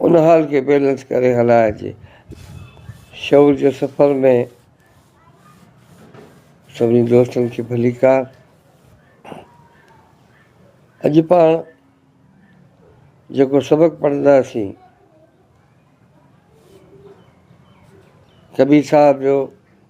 ان حال کي بيلنس ڪري هلائجي. شعور جي سفر ۾ سڀني دوستن کي ڀليڪار. اڄ پاڻ جيڪو سبق پڙهنداسين ڪبير صاحب جو،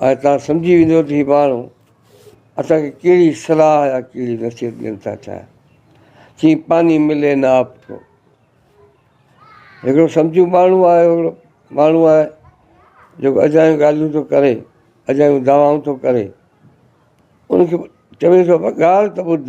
هاڻي توهان سمجهي ويندؤ ته هي ماڻهو اسان کي ڪهڙي صلاح يا ڪهڙي نصيحت ڏين ٿا چاهين. چيائين پاني ملي نه آپ ڪو. هڪڙو سمجهو ماڻهو آهي، هڪڙو ماڻهو آهي جيڪو اجايون ڳالهيون ٿو ڪري، اجايون دعوائون ٿو ڪري، ان کي چوي ٿو ڳالهه ته ٻڌ،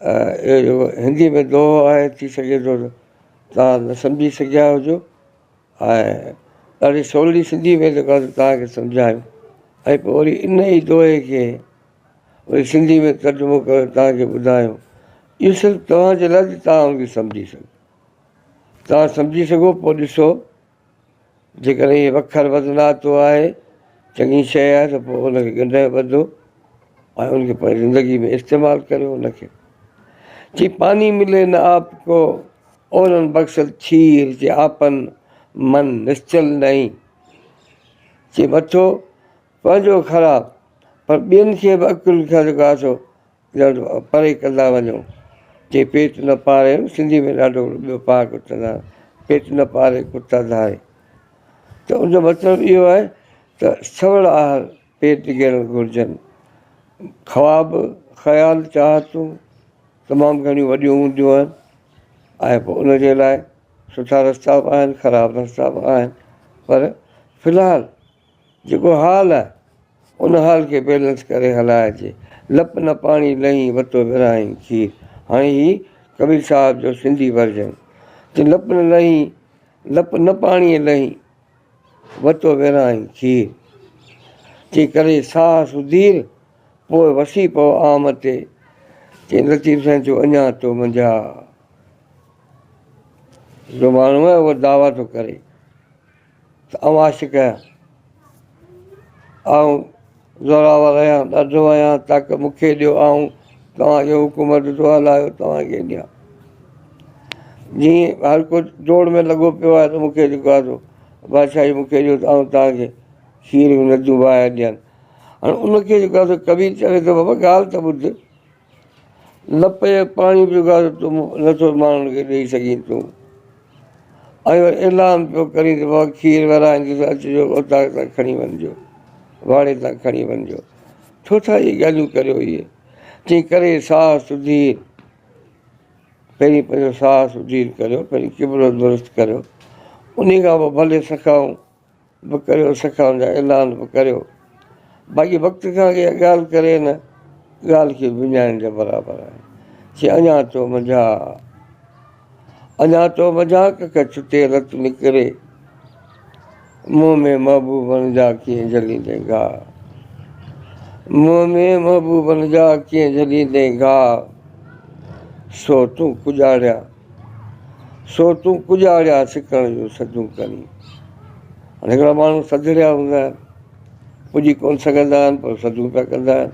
هندي ۾ دوهو آهي ٿي سگهي ٿو ته توهان نه سمجهي سگهيا هجو ۽ ڏاڍي سولي سنڌي ۾ جيڪو آهي توهانکي سمجهايو ۽ پوء وري ان ئي دوهي کي وري سنڌي ۾ ترجمو ڪري توهانکي ٻڌايو اهو صرف توهانجي لاء توهان ان کي سمجهي سگهو توهان سمجهي سگهو پوء ڏسو جيڪڏهن هي وکر وڌناتو آهي، چڱي شيء آهي ته پوء ان کي ڳنڍي ٻڌو ۽ ان کي پنهنجي زندگيء ۾ استعمال ڪريو. ان کي چي پاني ملي نه آپ ڪو، اورن بخشت کير چي آپن من نشچل نهين. چي مٿو پنهنجو خراب پر ٻين کي به عقل کي جيڪو آسو ڄڻ پري ڪندا وڃو. چي پيٽ نه پاري سنڌي ۾ ڏاڍو ٻيو پاڪ چوندا آهن پيٽ نه پاري ڪتا ڌاري ته ان جو مطلب اهو آهي ته سوڙ آهر پيٽ گهيرڻ گهرجن خواب خيال چاهتون تمام گهڻيون وڏيون هونديون آهن ۽ پوء ان جي لاء سٺا رستا به آهن خراب رستا به آهن پر في الحال جيڪو حال آهي ان حال کي بيلنس ڪري هلائي جي لپ نه پاڻي لئين وتو ورهائين کير هاڻي هي ڪبير صاحب جو سنڌي ورجن چي لپ نه لئين لپ نه پاڻي لئين وتو ورهائين کير چي ڪري ساهه سڌير پوء وسي پئو عام تي چي لطيف سائين ٿيو اڃا تو منجها جو ماڻهو آهي اهو دعويٰ ٿو ڪري. ته اوهان شڪ ڪيا. آئون زورآور آهيان، ڏڍو آهيان، تاڪ مون کي ڏيو، آئون توهان کي حڪومت جو حل آهيو، توهان کي ڏيان. جيئن هر ڪو ڊوڙ ۾ لڳو پيو آهي ته مون کي جيڪو آهي سو بادشاهي مون کي ڏيو ته آئون توهان کي کير جون نديون وهائي ڏيان. هاڻي ان کي جيڪو آهي سو ڪبير چوي ٿو بابا ڳالهه ته ٻڌ. نه پئي پاڻي پيو گهر تون نٿو ماڻهن کي ڏئي سگهين تون ۽ وري اعلان پيو ڪرين ته بابا کير ورايندس اچجو اوطاق تان کڻي وڃجو واڙي تان کڻي وڃجو ڇو ٿا اهي ڳالهيون ڪريو اهي تنهن ڪري ساهه سڌي پهرين پنهنجو ساهه سڌير ڪريو پنهنجو قبلو درست ڪريو انهي کان پوء ڀلي سکائون به ڪريو سکان جا اعلان به ڪريو باقي وقت کان اڳي ڳالهه ڪري هن ڳالهه کي وڃائڻ جي برابر آهي چي اڃا تو منجها اڃا تو منجها ڪک ڇٽي رت نڪري منهن ۾ محبوبن جا ڪيئن جليندين گاهه منهن ۾ محبوبن جا ڪيئن جليندين گاهه سو تون پڄاڻيا سو تون ڪڄاڙيا سڪڻ جون سڌون ڪرين. هاڻي هڪڙا ماڻهو سڌڙيا هوندا آهن، پڄي ڪونه سگهندا آهن پر سڌون پيا ڪندا آهن.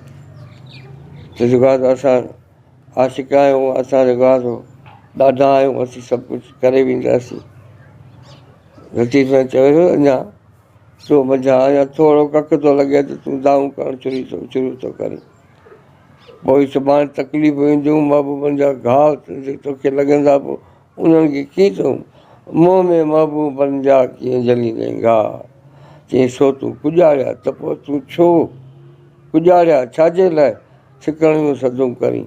چئجي ٿو گاهه ته اسان عاشق آهيون، اسان جو گاهه ٿو، ڏاڍا آهيون، اسين سڀ ڪجهه ڪري وينداسين. لطيف سائين چوي ٿو اڃا تو منجهان اڃا ٿورو ڪک ٿو لڳي ته تون دانهون ڪرڻ شروع ٿو ڪرين. پوء سڀاڻي تڪليفون اينديون، محبوبن جا گهاء جي توکي لڳندا به انهن کي ڪيئن چئون؟ منهن ۾ محبوبن جا ڪيئن جهليندين گهاء؟ چئين سو تون ڪڄاڙيا ته پوء تون ڇو ڪڄاڙيا ڇاجي لاء ڇڪڻ جون سڌون ڪرين؟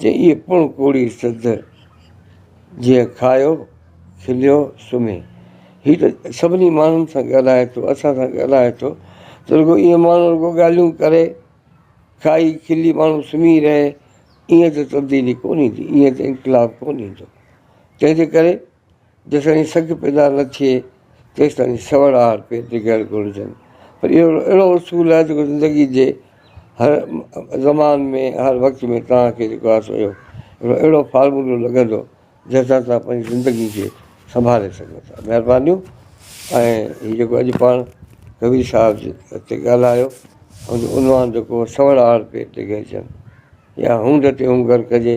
چئي پڻ ڪوڙي سڌ، جيئن کايو کليو سمهي. هي ته سڀني ماڻهن سان ڳالهائي ٿو، اسان سان ڳالهائي ٿو ته رڳو ايئن ماڻهو رڳو ڳالهيون ڪري، کائي کلي ماڻهو سمهي رهي، ايئن ته تبديلي ڪونه ايندي، ايئن ته انقلاب ڪونه ايندو، تنهنجي ڪري جيستائين سڳ پيدا نه ٿئي تيستائين سوڙ آهر پي ڊگهڙ گهرجن پر اهو اهڙو اصول آهي جيڪو زندگي جي هر زمان ۾ هر وقت ۾ توهان کي جيڪو آهي سو اهو هڪڙو اهڙو فارمولو لڳندو جنهن سان توهان پنهنجي زندگي کي سنڀالي سگهو ٿا مهربانيون ۽ هي جيڪو اڄ پاڻ ڪبير صاحب جي هتي ڳالهايو ان جو عنوان جيڪو سوڙ آهر پي ڊگهڙجن يا هونڊ تي هونگر ڪجي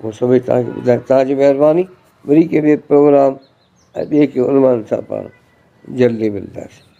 مون سڀئي توهان کي ٻڌايو توهان جي مهرباني وري ڪنهن ٻئي پروگرام ۽ ٻئي ڪنهن عنوان سان پاڻ جلدي ملنداسين